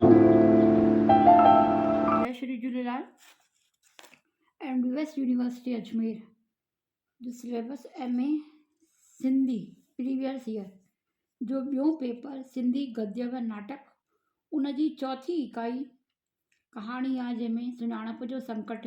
جي Shri Jhulelal M D ويس university Ajmer جو syllabus M A Sindhi previous year جو ٻيو پيپر سنڌي گديا ۽ ناٽڪ ان جي چوٿين اڪائي ڪهاڻي آ جنهن ۾ سڃاڻپ جو سنڪٽ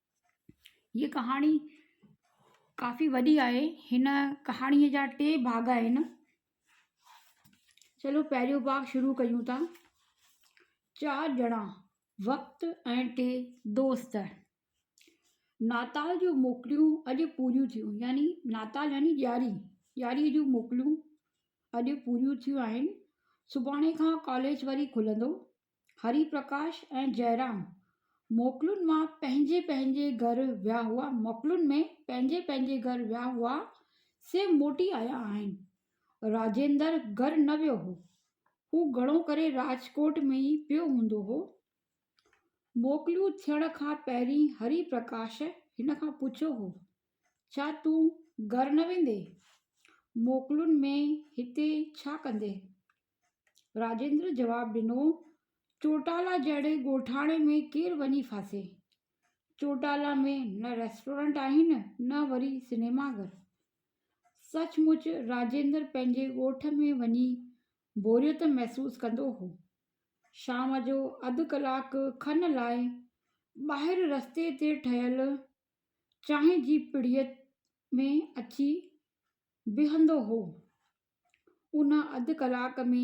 ھيء ڪھاڻي ڪافي وڏي آھي ھن ڪھاڻي جا ٽي ڀاڳ آھن چلو پهريون ڀاڳ شروع ڪيون ٿا چار ڄڻا وقت ۽ ٽي دوست ناتال جون موڪليون اڄ پوريون ٿيون يعني ناتال يعني ڏياري ڏياري جون موڪليون اڄ پوريون ٿيون آھن سڀاڻي کان ڪاليج وري کلندو هري پرڪاش ۽ جئرام موڪلن مان پنهنجي پنهنجي گهر ويا هئا موڪلن ۾ پنهنجي پنهنجي گهر ويا هئا سي موٽي آيا آهن راجيندر گهر نه ويو هو هو گهڻو ڪري راجڪوٽ ۾ ئي پيو هوندو هو موڪلون ٿيڻ کان پهرين هري پرڪاش هن کان پڇيو هو ڇا تون گهر نه ويندي موڪلن ۾ هتي ڇا ڪندي راجندر جواب ڏنو، چوٽالا جهڙي ڳوٺاڻي ۾ ڪير وڃي ڦاسي؟ چوٽالا ۾ نه ريسٽورنٽ آهن نه وري سينيما گهر. سچ مچ راجندر پنهنجي ڳوٺ ۾ وڃي بوريت محسوس ڪندو هو. شام جو اڌ ڪلاڪ کن لاء ٻاهر رستي تي ٺهيل چانهه جي پڙيت ۾ اچي بيهندو هو. ان اڌ ڪلاڪ ۾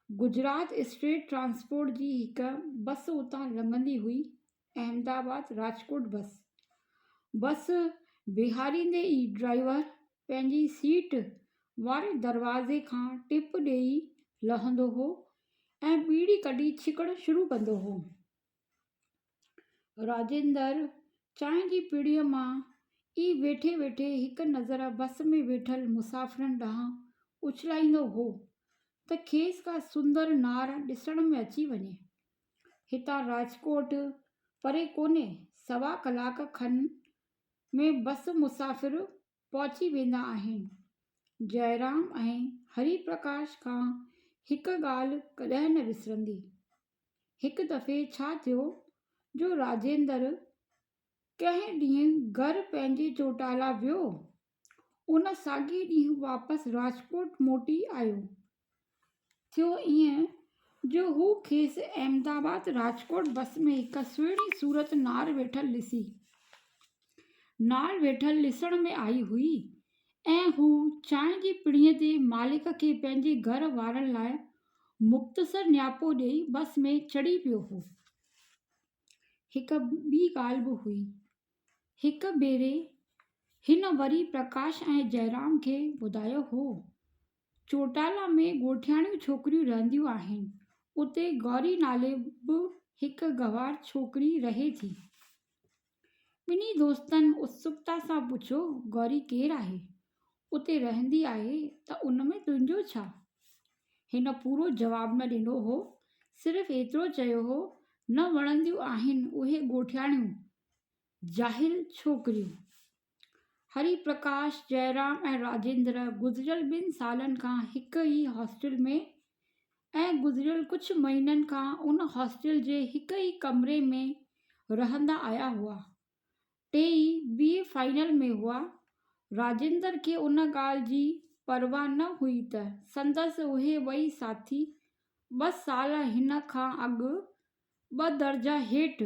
گجرات اسٽيٽ ٽرانسپورٽ جي هڪ بس اتان لنگهندي هئي احمد آباد راجڪوٽ بس بس بيهاريندي ئي ڊرائيور پنهنجي سيٽ واري دروازي کان ٽپ ڏيئي لهندو هو ۽ ٻيڙي ڪڍي ڇڪڻ شروع ڪندو هو راجندر چانهه جي پڙيء مان ئي ويٺي ويٺي هڪ نظر بس ۾ ويٺل مسافرن ڏانهن اڇلائيندو هو ته کيس ڪا سندر نار ڏسڻ ۾ اچي وڃي. هتان راجڪوٽ پري ڪونهي، سوا ڪلاڪ کن ۾ بس مسافر پهچي ويندا آهن. جئرام ۽ هري پرڪاش کان هڪ ڳالهه ڪڏهن نه وسرندي. هڪ دفعي ڇا ٿيو جو راجيندر ڪنهن ڏينهن گهر پنهنجي چوٽالا ويو. ان ساڳي ڏينهن واپس راجڪوٽ موٽي آيو. ٿيو ائين جو هو کيس احمدآباد راجڪوٽ بس ۾ هڪ سهڻي صورت نار ويٺل ڏسي. نار ويٺل ڏسڻ ۾ آئي هئي ۽ هو چانهه جي پڙينء تي مالڪ کي پنهنجي گهر وارن لاء مختصر نياپو ڏئي بس ۾ چڙهي پيو هو. هڪ ٻي ڳالهه به هئي. هڪ ڀيري هن وري پرڪاش ۽ جئرام کي ٻڌايو هو، چوٽالا ۾ ڳوٺياڻيون ڇوڪريون رهنديون آهن، اتي گوري نالي به هڪ گنوار ڇوڪري رهي ٿي. ٻنهي دوستن اتسڪتا سان پڇيو، گوري ڪير آهي؟ اتي رهندي آهي ته ان ۾ تنهنجو ڇا؟ هن پورو جواب نه ڏنو هو، صرف ايترو چيو هو، نه وڻنديون آهن اهي ڳوٺياڻيون، جاهل ڇوڪريون. هري پرڪاش، جئرام ۽ راجندر گذريل ٻن سالن کان هڪ ئي هاسٽل ۾ ۽ گذريل ڪجهه مهينن کان ان هاسٽل جي هڪ ئي ڪمري ۾ رهندا آيا هئا. ٽيئي بي اي فائنل ۾ هئا. راجندر کي ان ڳالهه جي پرواهه نه هئي ته سندس اهي ٻئي ساٿي ٻه سال هن کان اڳ ٻه درجا هيٺ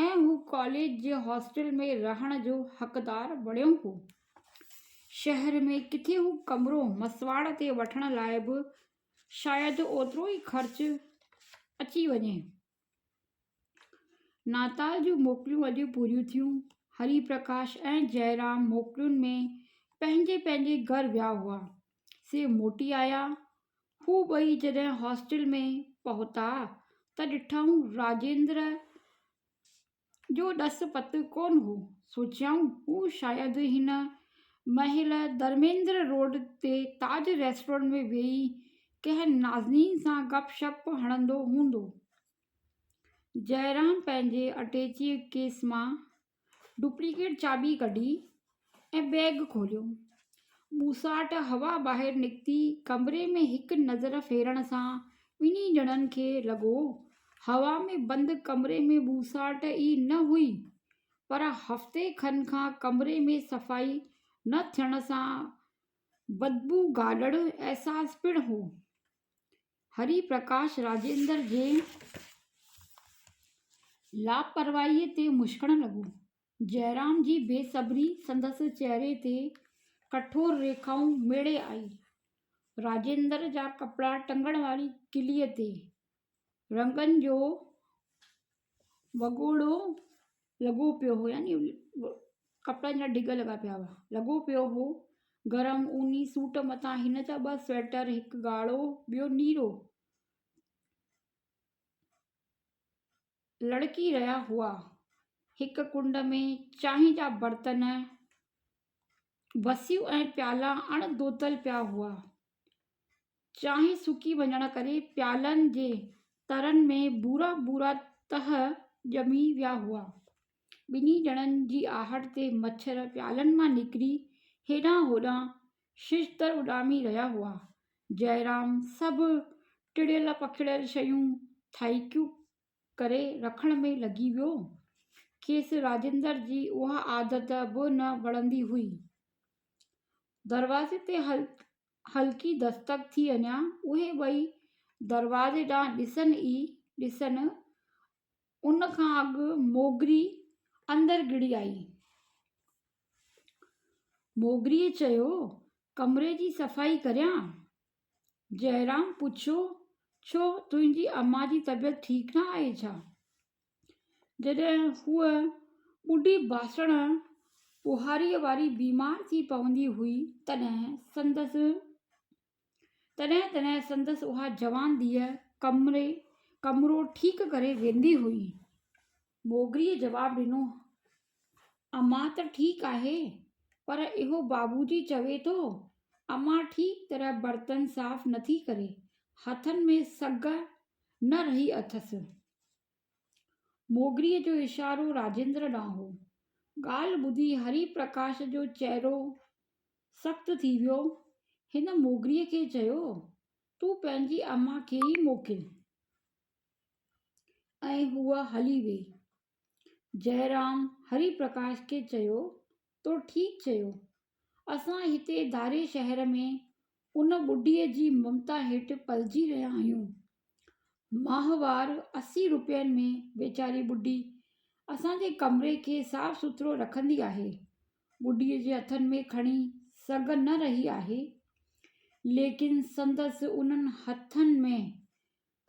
۽ هو ڪاليج جي هاسٽل ۾ رهڻ جو حقدار بڻيو هو. شهر ۾ ڪٿي هو ڪمرو مسواڙ تي وٺڻ لاء به شايد اوترو ئي خرچ اچي وڃي. ناتال جون موڪليون اڄ پوريون ٿيون. هري پرڪاش ۽ جئرام موڪلين ۾ پنهنجي پنهنجي گهر ويا هئا. سي موٽي آيا. هو ٻئي جڏهن هاسٽل ۾ پهتا ته ڏٺائون راجندر جو ڏس پت ڪونه هو. سوچيائون هو شايد هن مهل ڌرميندر روڊ تي تاج ريسٽورنٽ ۾ ويهي ڪنهن نازنين سان گپ شپ هڻندو هوندو. جئرام پنهنجي اٽيچيء ڪيس مان ڊپليڪيٽ چاٻي ڪڍي ۽ بيگ کوليو. ٻوساٽ هوا ٻاهر نڪتي ڪمري ۾ هڪ نظر ڦيرڻ سان ٻنهي ڄڻن کي لڳو، هوا ۾ بند ڪمري ۾ ٻوساٽ ئي نه هئي، پر هفتي کن کان ڪمري ۾ صفائي نه ٿيڻ سان بدبوگالڙ احساس پڻ هو. هري پرڪاش راجيندر جي لاپرواهيء تي مشڪڻ لڳو. جئرام جي بي صبري سندس چهري تي ڪٺور ريکائون ميڙي آئي. راجيندر جا ڪپڙا ٽنگڻ واري ڪليء تي رنگن جو وڳوڙو لڳو پيو هو يعني ڪپڙن جا ڍڳ لڳا پيا هئا لڳو پيو هو گرم اوني سوٽ مٿان هن جا ٻه سويٽر هڪ ڳاڙهو ٻيو نيرو لڙڪي رهيا هئا هڪ ڪنڊ ۾ چانهه جا برتن بسيون ۽ پيالا اڻ ڌوتل پيا هئا چانهه سڪي وڃڻ ڪري پيالن جي ترن ۾ ڀورا ڀورا تهه ڄمي ويا هئا. ٻنهي ڄڻن جي آهٽ تي مڇر پيالن مان نڪري هيڏانهن هوڏانهن ششدر اڏامي رهيا هئا. جئرام سڀ ٽڙيل پکڙيل شيون ٿائڪيون ڪري رکڻ ۾ لڳي ويو. کيس راجندر جي اها عادت به نه وڻندي هئي. دروازي تي هلڪي دستڪ ٿي اڃان اهي ٻئي دروازي ڏانهن ڏسن ئي ڏسن، ان کان اڳ موگري اندر گهڙي آئي. موگريء چيو، ڪمري جي صفائي ڪريان؟ جئرام پڇيو، ڇو تنهنجي اما جي طبيعت ٺيڪ نه آهي ڇا؟ جڏهن هوء ٻڍي باسڻ ٻهاريء واري بيمار ٿي پوندي هئي، تڏهن سندس تڏهن تڏهن سندس اها جوان ڌيء ڪمري ڪمرو ٺيڪ ڪري ويندي هئي. موگريء جواب ڏنو، امان ته ٺيڪ آهي، پر اهو بابوجي چوي ٿو، امان ٺيڪ طرح برتن صاف نٿي ڪري، هٿن ۾ سگهه نه رهي اٿس. موگريء جو اشارو راجندر ڏانهن هو. ڳالهه ٻڌي هري پرڪاش جو چهرو سخت ٿي ويو. هن موگريء کي چيو، تون پنهنجي امان کي ئي موڪل. ۽ هوء هلي ويئي. جئرام هري پرڪاش کي چيو، تو ٺيڪ چيو. اسان هتي ڌاري شهر ۾ ان ٻڍيء جي ممتا هيٺ پلجي رهيا آهيون. ماهوار اسي روپين ۾ ويچاري ٻڍي اسان جي ڪمري کي صاف سٿرو رکندي آهي. ٻڍيء جي هٿن ۾ کڻي سگهه نه رهي آهي، ليڪن سندس انهن هٿن ۾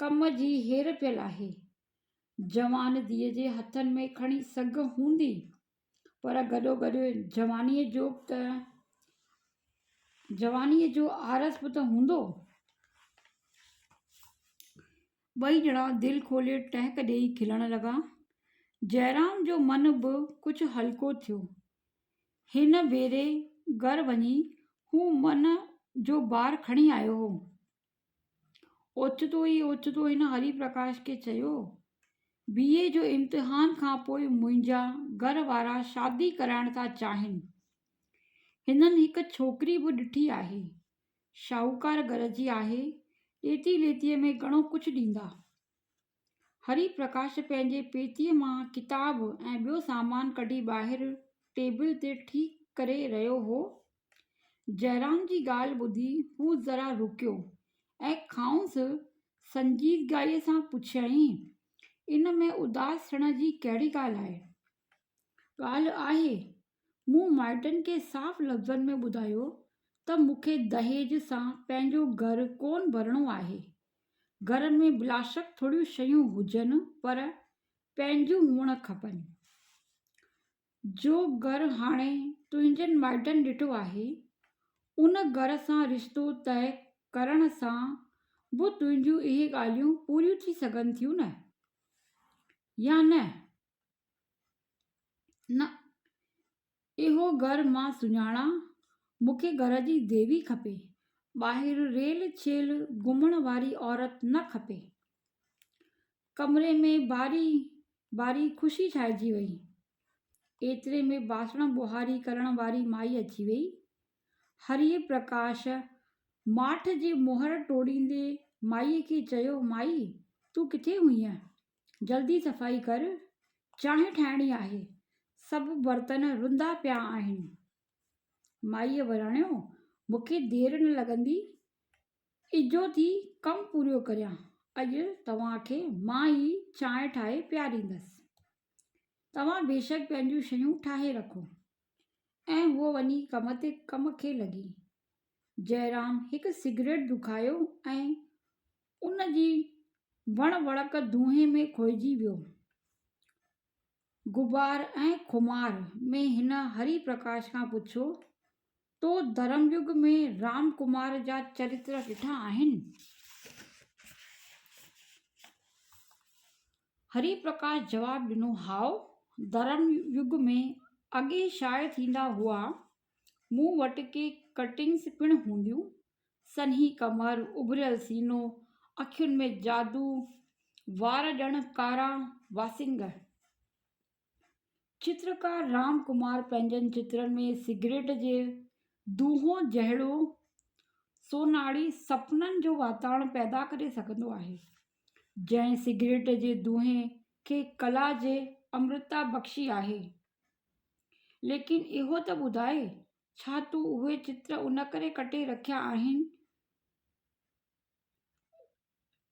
ڪم جي هير پيل آهي. جوان ڌيء جي هٿن ۾ کڻي سگهه هوندي، پر گڏوگڏ جوانيء جو به ته جوانيء جو آرس به ته هوندو. ٻئي ڄڻا دل کولي ٽهڪ ڏيئي کلڻ لڳا. جئرام جو من به ڪجهه هلڪو ٿيو. هن ڀيري گهر وڃي هو من جو بار کڻي آيو هو. اوچتو ئي اوچتو هن هري پرڪاش کي چيو، بي اي جو امتحان کان پوء منهنجا گهر وارا شادي ڪرائڻ ٿا چاهين. هنن هڪ ڇوڪري به ڏٺي آهي. شاهوڪار گهر جي آهي، ڏيتي ليتيء ۾ گهڻو ڪجهه ڏيندا. هري پرڪاش پنهنجي پيتيء مان ڪتاب ۽ ٻيو سامان ڪڍي ٻاهر ٽيبل تي ٺيڪ ڪري رهيو هو. جئرام جي ڳالهه ٻڌي هو ذرا رڪيو ۽ کانئس سنجيدگيء سان پڇيائين، ان ۾ اداس ٿيڻ جي ڪهڙي ڳالهه آهي؟ ڳالهه آهي مون مائٽن کي صاف لفظن ۾ ٻڌايو ته مون کي دهيج سان پنهنجو گهر ڪونه ڀرڻو آهي. گهر ۾ بلاشڪ ٿوريون شيون هجن پر پنهنجون هئڻ کپن. جو گهر هاڻي تنهنجن مائٽن ڏٺو آهي، ان گهر سان رشتو طئي ڪرڻ سان به تنهنجون اهي ڳالهيون پوريون ٿي سگهن ٿيون نه؟ يا نه؟ نه اهو گهر مان سڃاڻان مون کي گهر جي ديوي کپي ٻاهر ريل ڇيل گهمڻ واري عورت نه کپي ڪمري ۾ ٻاري ٻاري خوشي ڇائجي وئي ايتري ۾ ٻاسڻ ٻهاري ڪرڻ واري مائي اچي وئي هري پرڪاش ماٺ جي مهر ٽوڙيندي مائي کي چيو مائي تون ڪٿي هئينء جلدي صفائي ڪر چانهه ٺاهڻي آهي سڀ برتن رنڌا پيا آهن مائي وراڻيو مون کي دير نه لڳندي اجهو ٿي ڪم پورو ڪريان اڄ توهان کي مان ئي چانهه ٺاهي پياريندس توهان بيشڪ پنهنجون شيون ٺاهي رکو ۽ هوء وڃي ڪم تي ڪم کي لڳي جئرام هڪ سگريٽ دکايو ۽ ان جي وڻ وڙڪ دونهين ۾ کوئجي ويو. غبار ۽ خمار ۾ هن هري پرڪاش کان پڇيو، تو ڌرم يگ ۾ رام ڪمار جا چريتر ڏٺا آهن؟ هري پرڪاش جواب ڏنو، هائو، ڌرم يگ ۾ اڳي شايع ٿيندا هئا، مون وٽ ڪي ڪٽنگس پڻ هونديون. سنهي ڪمر، اڀريل سينو، اکين ۾ جادو، وار ڄڻ ڪارا واسنگ. چترڪار رام ڪمار پنهنجن چترن ۾ سگريٽ جي دونهو جهڙو سونهاڙي سپنن جو واتاڻ پيدا ڪري سگهندو آهي، جنهن سگريٽ جي دونهي کي ڪلا جي امرتا بخشي آهي. ليڪن اهو ته ٻڌاء، ڇا تون اهي چتر ان ڪري ڪٽي رکيا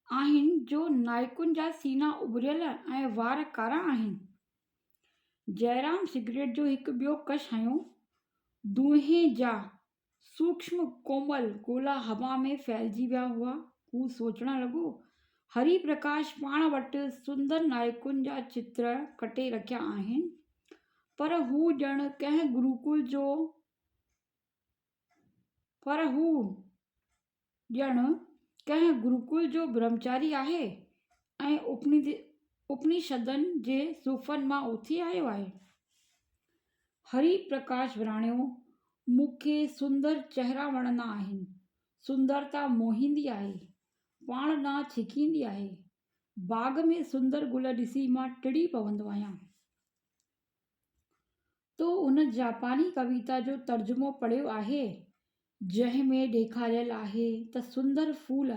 آهن جو نائيڪن جا سينا اڀريل ۽ وار ڪارا آهن؟ جئرام سگريٽ جو هڪ ٻيو ڪش هنيو. دونهين جا سوڪشم ڪومل گولا هوا ۾ ڦهلجي ويا هئا. هو سوچڻ لڳو. هري پرڪاش پاڻ وٽ سندر نائڪن جا چتر ڪٽي رکيا آهن. پر هو ڄڻ ڪنهن گروڪل جو پر هو ڄڻ ڪنهن گروڪل جو برهمچاري آهي ۽ اپنيد اپنيشدن جي صوفن مان اٿي آيو آهي. هري پرڪاش وراڻيو، مون کي سندر چهرا وڻندا آهن. سندرتا موهيندي آهي. پاڻ ڏانهن ڇڪيندي آهي. باغ ۾ سندر گل ڏسي مان ٽڙي پوندو آهيان. تو ان جاپاني ڪويتا جو ترجمو پڙهيو آهي، جنهن ۾ ڏيکاريل آهي ته سندر ڦول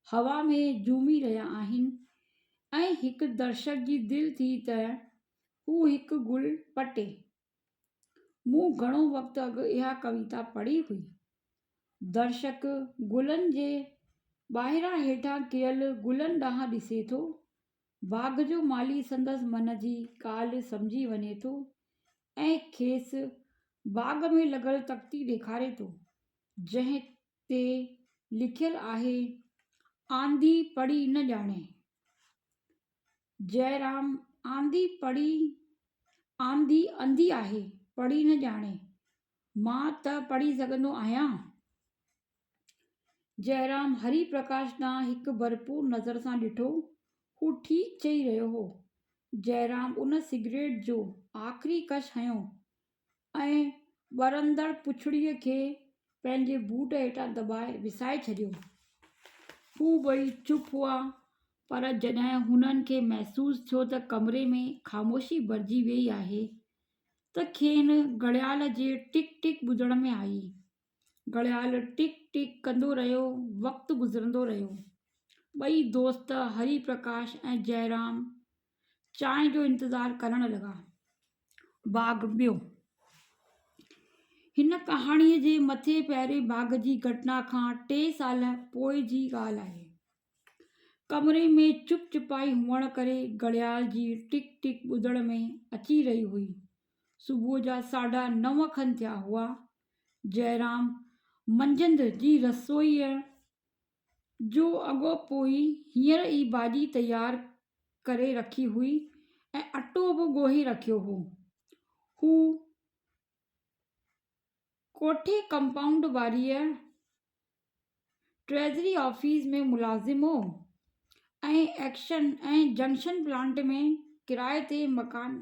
هوا ۾ جهومي رهيا آهن ۽ هڪ درشڪ جي دل ٿي ته هو هڪ گل پٽي. مون گهڻو وقت اڳ اها ڪويتا پڙهي هئي. درشڪ گلن جي ٻاهران هيٺان ڪيل گلن ڏانهن ڏسي ٿو باغ جو مالي سندس من جي ڳالهه سمجهي وڃي ٿو ۽ کيس باغ ۾ لڳل تختي ڏيکاري ٿو، جنهن تي لکيل آهي، آنڌي پڙهي نه ڄاڻي. جئرام، آنڌي پڙهي، آنڌي انڌي آهي، پڙهي نه ڄاڻي. مان ته پڙهي سگهندو آهيان. جئرام هري پرڪاش ڏانهن هڪ ڀرپور نظر سان ڏٺو. هو ٺيڪ چئي رهيو هو. جئرام ان سگريٽ جو آخري ڪش هنيو ۽ ٻرندڙ پڇڙيء کي پنهنجي بوٽ هيٺان دٻائي وسائي ڇڏيو. هو ٻئي چپ هئا، پر جڏهن هنن کي محسوس ٿيو ته ڪمري ۾ خاموشي ڀرجي ويئي آهي، ته کين گهڙيال جي ٽڪ ٽڪ ٻڌڻ ۾ آئي. گهڙيال ٽڪ ٽڪ ڪندو رهيو وقت گذرندو رهيو ٻئي دوست هري پرڪاش ۽ جئرام چانهه جو انتظار ڪرڻ لڳا باغ ٻيو هن ڪهاڻي جي مٿي پهرين باغ جي گهٽنا کان ٽي سال پوء جي ڳالهه آهي ڪمري ۾ چپ چپائي هئڻ ڪري گهڙيال جي ٽڪ ٽڪ ٻڌڻ ۾ اچي رهي هئي صبح جا ساڍا نو کن ٿيا هئا جئرام منجهند جي رسوئيء جو اڳو پوء ئي هينئر ئي ڀاڄي تيار ڪري رکي هئي ۽ اٽو به ڳوهي رکيو هو. هو ڪوٺي ڪمپائونڊ واريء ٽريزري آفيس ۾ ملازم هو ۽ جنڪشن پلانٽ ۾ ڪرايي تي مڪان